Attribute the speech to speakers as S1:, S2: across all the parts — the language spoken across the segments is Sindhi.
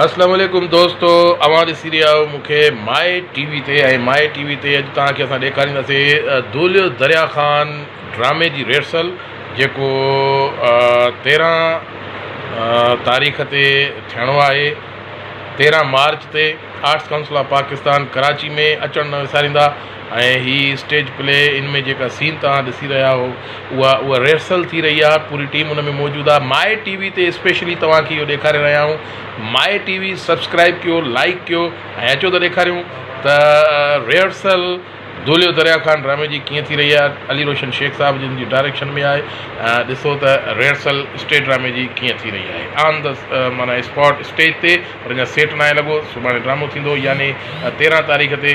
S1: اسلام عليڪم دوستو اوهان ڏسي رهيا آهيو مون کي مائي ٽي وي تي ۽ مائي ٽي وي تي اڄ توهان کي اسان ڏيکارينداسين دوليو دريا خان ڊرامي جي ريرسل جيڪو تيرهن تاريخ تي ٿيڻو آهي تيرهن مارچ تي arts council of Pakistan Karachi ۾ اچڻ نه وساريندا ۽ هي اسٽيج پلي ان ۾ جيڪا سين توهان ڏسي رهيا آهو اها اها ريهرسل ٿي رهي آهي پوري ٽيم ان ۾ موجود آهي ماء ٽي وي تي اسپيشلي توهان کي اهو ڏيکاري رهيا آهيون ماء ٽي وي سبسڪرائب ڪيو لائڪ ڪيو ۽ اچو ته ڏيکاريون ته ريهرسل دوليو دريا خان ڊرامي جي ڪيئن ٿي رهي آهي علي روشن شيخ صاحب جن جي ڊائريڪشن ۾ آهي ڏسو ته ريهرسل اسٽيج ڊرامي جي ڪيئن ٿي رهي آهي آن د معنيٰ اسپاٽ اسٽيج تي پر اڃا سيٽ ناهي لڳو سڀاڻي ڊرامو ٿيندو يعني تيرهن تاريخ تي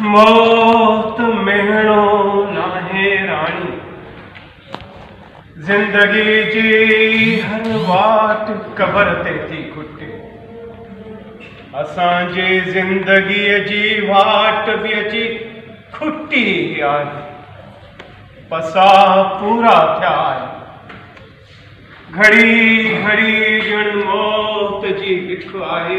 S2: موت
S3: مهڻو ناهي راڻي، زندگي جي هر واٽ قبر تي ٿي کٽي. اسان جي زندگيء جي واٽ به اچي کٽي آهي. پساهه پورا ٿيا آهن. گهڙي گهڙي ڄڻ موت جي هڪ آهي.